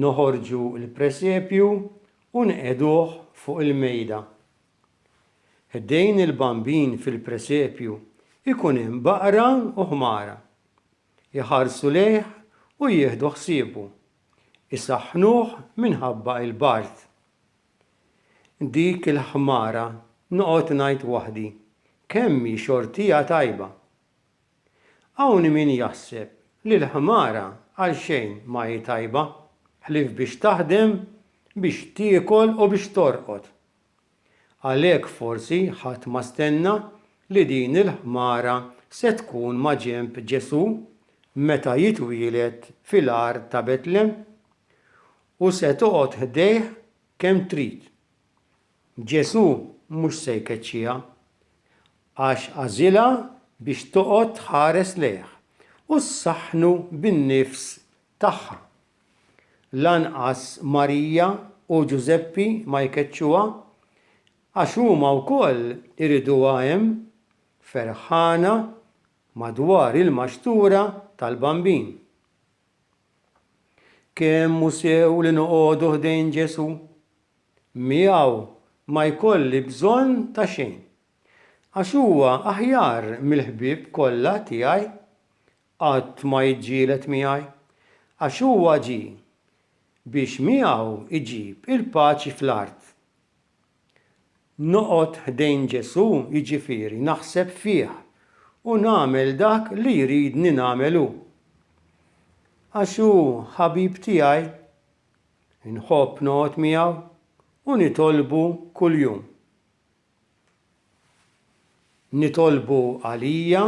Noħorġu l-presepju u nqegħduh fuq il-mejda. Ħdejn il-Bambin fil-presepju jkun hemm baqra u ħmara. Iħarsu lejh u jieħdu ħsiebu. Isaħħnuh minħabba l-bard. Dik il-ħmara noqgħod ngħid waħdi, kemm hi xortija tajba! Hawn min jaħseb li l-ħmara għal xejn ma hi tajba ħlief biex taħdem, biex tiekol u biex torqod. Għalhekk forsi ħadd ma stenna li din il-ħmara se tkun maġenb Ġesù meta jitwieled fil-għar ta' Betlem u se toqgħod ħdejh kemm trid. Ġesù mhux se jkeċċiha, għax għażilha biex toqgħod tħares lejh u ssaħħnu bin-nifs tagħha. Lanqas Marija u Ġużeppi ma jkeċċuha, għax huma wkoll iriduha hemm, ferħana madwar il-maxtura tal-Bambin. Kemm hu sew li noqogħdu ħdejn Ġesù miegħu ma jkolli bżonn ta' xejn, għax huwa aħjar mill-ħbieb kollha tiegħi, qatt ma jiġġieled miegħi, għax huwa ġie biex miegħu jġib il-paċi fl-art. Noqgħod ħdejn Ġesù, jiġifieri naħseb fih u nagħmel dak li jridni nagħmel hu. Għax hu ħabib tiegħi Inħobb noqgħod miegħu u nitolbu kuljum. Nitolbu għalija,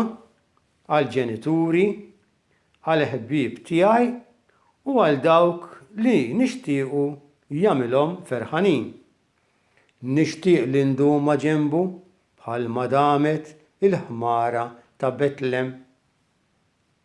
għall-ġenituri, għall-ħbieb tiegħi u għal dawk li nixtiequ jagħmilhom ferħanin. Nixtieq li ndum ma' ġenbu bħalma damet il-ħmara ta' Betlem.